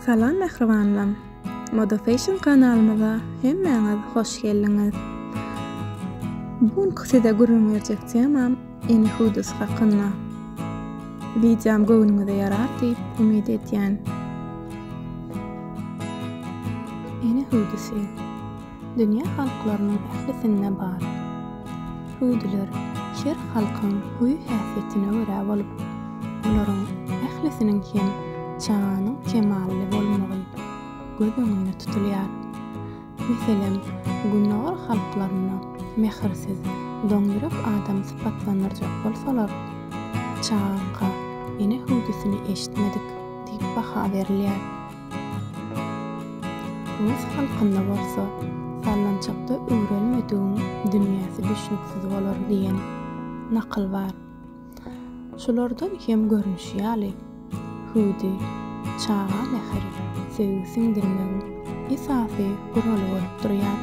Salam mähribanlarim! Moda Fashion kanalymyza hemmäňiz hoş geldiňiz! Bu günki size gürrüň berjek temam Eni Hudis hakynda. Wideom göwnüňize ýarar diýip umyt edýän. Eni Hudisi. dünýä halklarynyň ählisinde bar. Suudylar her halkyň huý-häsiýetine görä bolup, olaryň ählisiniň hem çaganyň kemally bolmagy göz öňünde tutulýar. Meselem, Gündogar halklarynda mähirsiz, doňýürek adamy sypatlandyrjak bolsalar, çaga ene hüwdüsini eşitmedik diýip baha berilýär. Rus halkynda bolsa, Sallançakda öwrelmedigiň dünýäsi düşnüksiz bolar diýen nakyl bar. Şulardan kem görnüşi ýaly, hüwdi, çaga mähir, söýgi siňdirmegiň esasy guraly bolup durýar.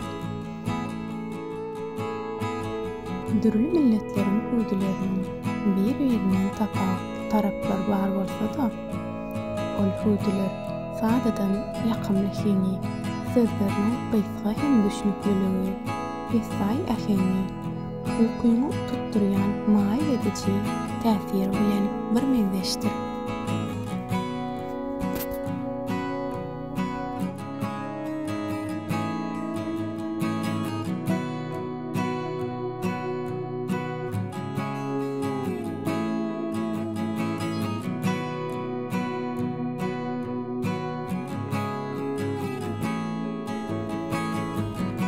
Dürli milletleriň hüwdileriniň bir-birinden tapawutly taraplary bar bolsa-da, Ol hüwdüler sadadan ýakymly heňi, sözleriniň gysga hem düşnükliligi, pessaý äheňi, ukyňy tutdurýan maýyl ediji täsiri bilen birmeňzeşdir.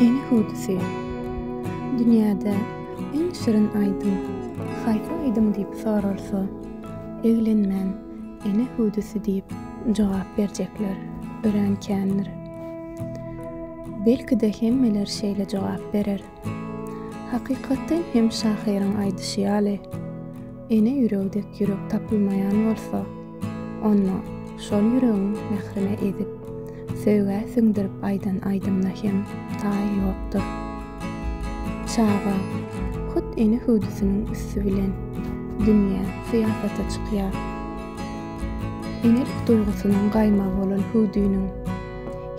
Enihudysy, dünýäde iň şirin aýdym haýsy aýdym diýip soralsa, eglenmän Ene hüwdüsi diýip jogap berjekler örän kändir. Belki-de hemmeler şeýle jogap berer. Hakykatdan hem şahyryň aýdyşy ýaly, ene ýüregi dek ýürek tapylmaýan bolsa, onda şol ýüregiň mährine edip, Söýgä siňdirip aýdan aýdymyna hem taý ýokdur. Çaga, hut ene hüwdüsiniň üsti bilen dünýä, syýasata çykýar. Enelik duýgusynyň gaýmagy bolan hüwdüniň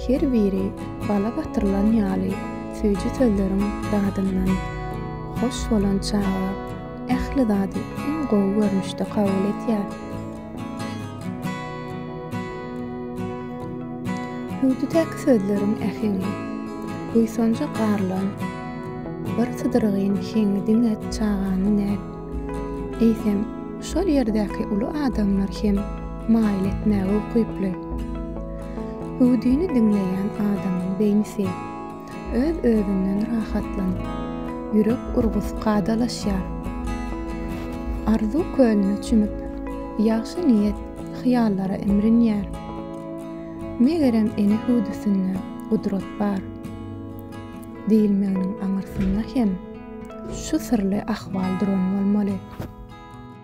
her biri bala batyrylan ýaly süýji sözleriň dadyndan hoş bolan çaga ähli zady iň gowy görnüşde kabul edýär. Hüwdüdäki sözleriň äheňi, buýsanja garylan bir sydyrygyn heňi diňe çaganyň däl, eýsem, şol ýerdäki uly adamlar hem maýyl etmäge ukyply. Hüwdüni diňleýän adamyň beýnisi. Öz-özünden rahatlan. Ýürek urgusy kadalaşýar. Arzuw kölüne çümüp, ýagşy niýet hyýallara imrinýär. Megerem ene hüwdüsinde gudrat bar. Diýilmeginiň aňyrsynda hem şu syrly ahwal duran bolmaly.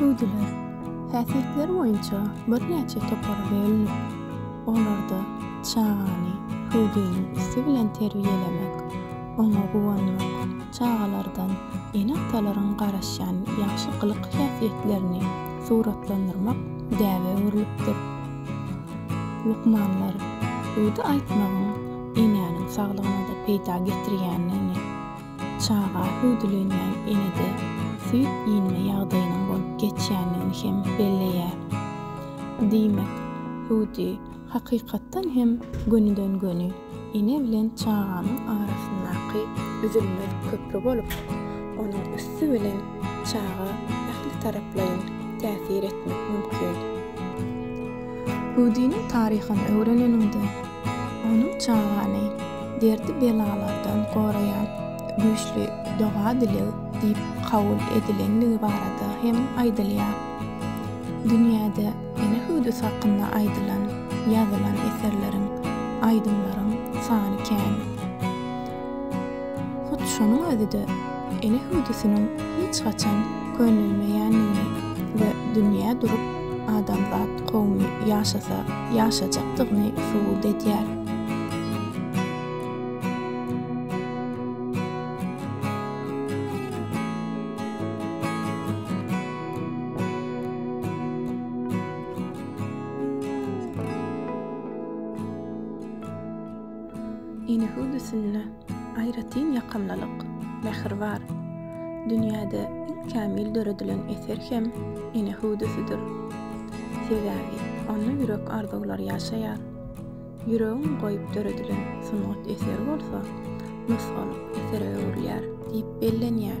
Hüwdüler häsiýetleri boýunça birnäçe topara bölünip, olarda çagany hüwdüniň üsti bilen terbiýelemek, oňa guwanmak, çagalardan ene-atalaryň garaşýan ýagşy gylyk-häsiýetlerini suratlandyrmak däbe öwrülipdir. Lukmanlar hüwdi aýtmagyň enäniň saglygyna-da peýda getirýändigini, Çaga hüwdülenýän enede süýt iýinme ýagdaýynyň bolup geçýändigini hem belleýär. Diýmek, hüwdi, hakykatdan hem, gönüden-göni ene bilen çaganyň arasyndaky üzülmez köpri bolup, onuň üsti bilen çaga ähli taraplaýyn täsir etmek mümkin. Hüwdiniň taryhyny öwreneniňde, Onuň çagany derdi-belalardan goraýan güýçli doga-dileg diýip kabul edilendigi barada hem aýdylýar. Dünýäde ene hüwdüsi hakynda aýdylan, ýazylan eserleriň, aýdymlaryň sany kän. Hut şonuň özi-de ene hüwdüsiniň hiç haçan könelmeýändigini we dünýä durup adamzat kowumy ýaşasa ýaşajakdygyny subut edýär. Ine höwdüsinde aýratyn ýakymlylyk, mähir bar. Dünýäde iň kämil döredilen eser hem ene hüwdüsidir. Sebäbi onda ýürek arzuwlary ýaşaýar. Ýüregiň goýup döredilen sungat eseri bolsa nusgalyk esere öwrülýär diýip bellenýär.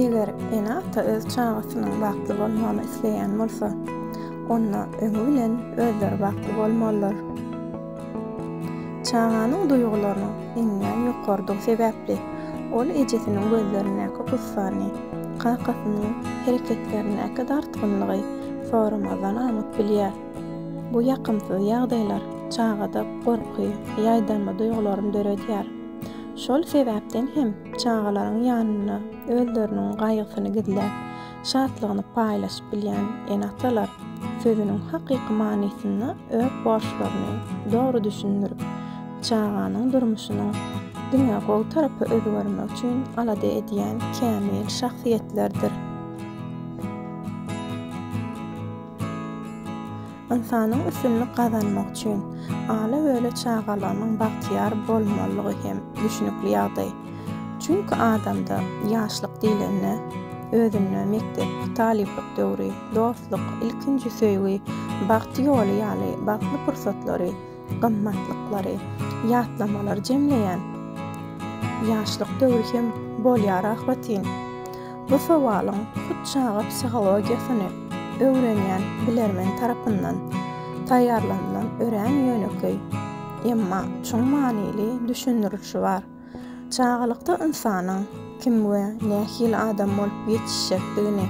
Eger ene-ata öz çagasynyň bagtly bolmagyny isleýän bolsa, onda öňi bilen özleri bagtly bolmalydyr. Çaganyň duýgularynyň iňňän ýokarydygy sebäpli, ol ejesiniň gözlerindäki gussany, kakasynyň hereketlerindäki dartgynlygy soramazdan aňyp bilýär. Bu ýakymsyz ýagdaýlar çagada gorky, ýaýdanma duýgularyny döredýär. Şol sebäpden hem çagalaryň ýanynda özleriniň gaýgysyny gizläp, şatlygyny paýlaşyp bilýän ene-atalar sözüniň hakyky manysynda öz borçlaryny dogry düşündirip, çaganyň durmuşynyň diňe gowy tarapa özgermegi üçin alada edýän kämil şahsyýetlerdir. Ynsanyň üstünlik gazanmagy üçin ala-böle çagalarynyň bagtyýar bolmalydygy hem düşnükli ýagdaý. Çünki adamda ýaşlyk diýlende, özünde mekdep, talyplyk döwri, dostluk, ilkinji söýgi, bagt ýoly ýaly bagtly pursatlary, gymmatlyklary, ýatlamalary jemleýän ýaşlyk döwri hem bolýar ahbetin. Bu sowalyň hut çaga psihologiýasyny öwrenýän bilermen tarapyndan taýýarlanylan örän ýönekeý, emma çuň manyly düşündirilişi bar. Çagalykda ynsanyň kim we nähili adam bolup ýetişjekdigini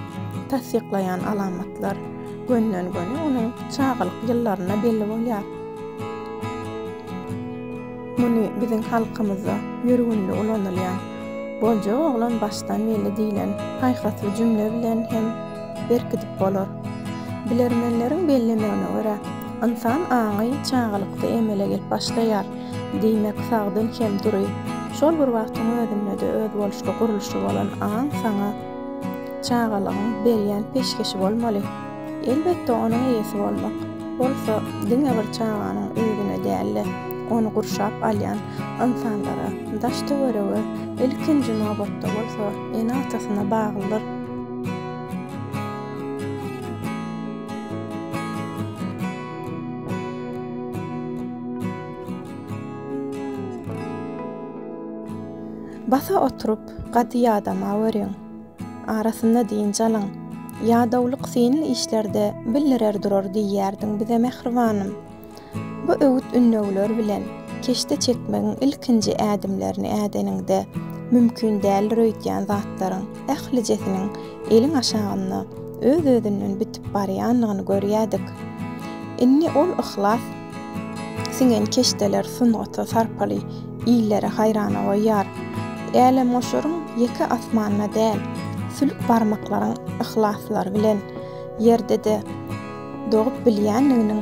tassyklaýan alamatlar gönden-göni onuň çagalyk ýyllarynda belli bolýar. Muny biziň halkymyzda ýörgünli ulanylýan Boljak oglan başdan belli diýlen paýhasly jümle bilen hem berkidip bolar. Bilermenleriň bellemegine görä, ynsan aňy çagalykda emele gelip başlaýar. Diýmek, sagdyn hem dury. Şol bir wagtyň özünde-de özboluşly gurluşy bolan aň saňa çagalygyň berýän peşgeşi bolmaly. Elbetde, onuň eýesi bolmak bolsa diňe bir çaganyň özüne däl-de, ony gurşap alýan ynsanlara, daş-töwerege, ilkinji nobatda bolsa ene-atasyna baglydyr. Basa oturyp, gady ýadama görüň. Arasynda dynç alyň. Ýadawlyk synly işlerde bildirer durar diýýärdiň bize mähribanym. Bu öwüt-ündewler bilen keşde çekmegiň ilkinji ädimlerini ädeniňde mümkin däldir öýdýän zatlaryň. ählijesiniň eliň aşagynda öz-özünden bitip barýanlygyny görýädik. Indi ol yhlas siňen keşdeler sungata sarpaly illeri haýrana goýýar. Älemgoşaryň ýeke asmanda däl, sülük barmaklaryň yhlaslary bilen Ýerde-de dogup bilýänliginiň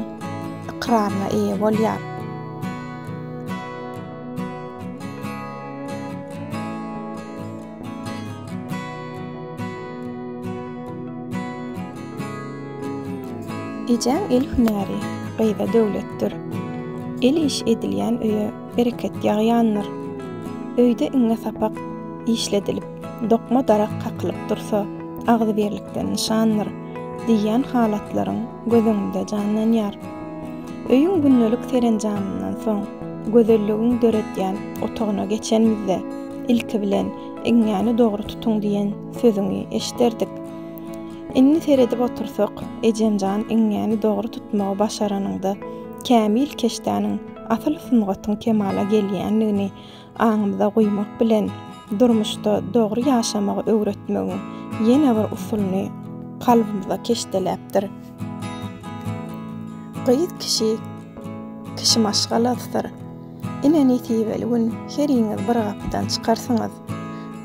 ykraryna eýe bolýar. Ejäň el hünäri gyza döwletdir. El iş edilýän öýe bereket ýagýandyr. Öýde iňňe sapak işledilip, dokma darak kakylyp dursa, agzybirlikden nyşandyr diýýän halatlaryň göz öňünde janlanýar. Öýüň gündelik serenjamyndan soň, gözelligiň döredýän otagyna geçenimizde, Ilki bilen, Iňňäni dogry tutuň diýen sözüňi eşiderdik. Indi seredip otursak, ejemjan iňňäni dogry tutmagy başaranyňda, kämil keşdäniň, asyl sungatyň kemala gelýändigini aňymyza guýmak bilen, durmuşda dogry ýaşamagy öwretmegiň ýene bir usulyny kalbymyza keşdeläpdir. Gyz kişi kişi maşgalasydyr. Ine nesibeli gün heriňiz bir gapydan çykarsyňyz.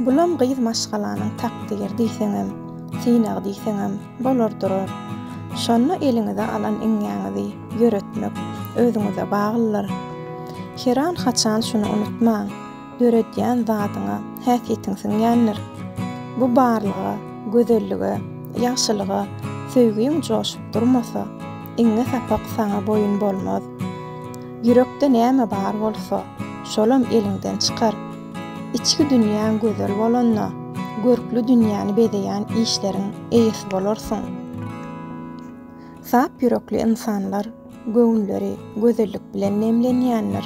Bulam gyz maşgalanyň takdyr diýseňem, synagy diýseňem bolar durar. Şonda eliňize alan iňňäňizi ýöretmek özüňize baglydyr. Heran haçan şuny unutmaň, döredýän zadyňa häsiýetiň siňýändir. Bu barlyga, gözellige, ýagşylyga söýgiň joşup durmasa, iňňe sapak saňa boýun bolmaz. Ýürekde näme bar bolsa, şolam eliňden çykar. Içki dünýäň gözel bolanda, görkli dünýäni bezeýän işleriň eýesi bolarsyň. Sap ýürekli ynsanlar göwünleri gözellik bilen nemlenýändir.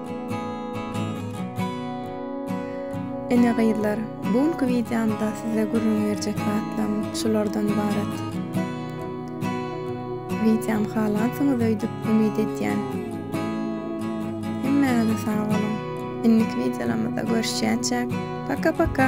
Ine gyzlar, bu günki wideomda size gürrüň berjek zatlarym şulardan ybarat. Wideomy halansyňyz öýdüp umyt edýän. Hemmäňize sag boluň. Indiki wideolarymyzda görüşýänçäk, paka paka!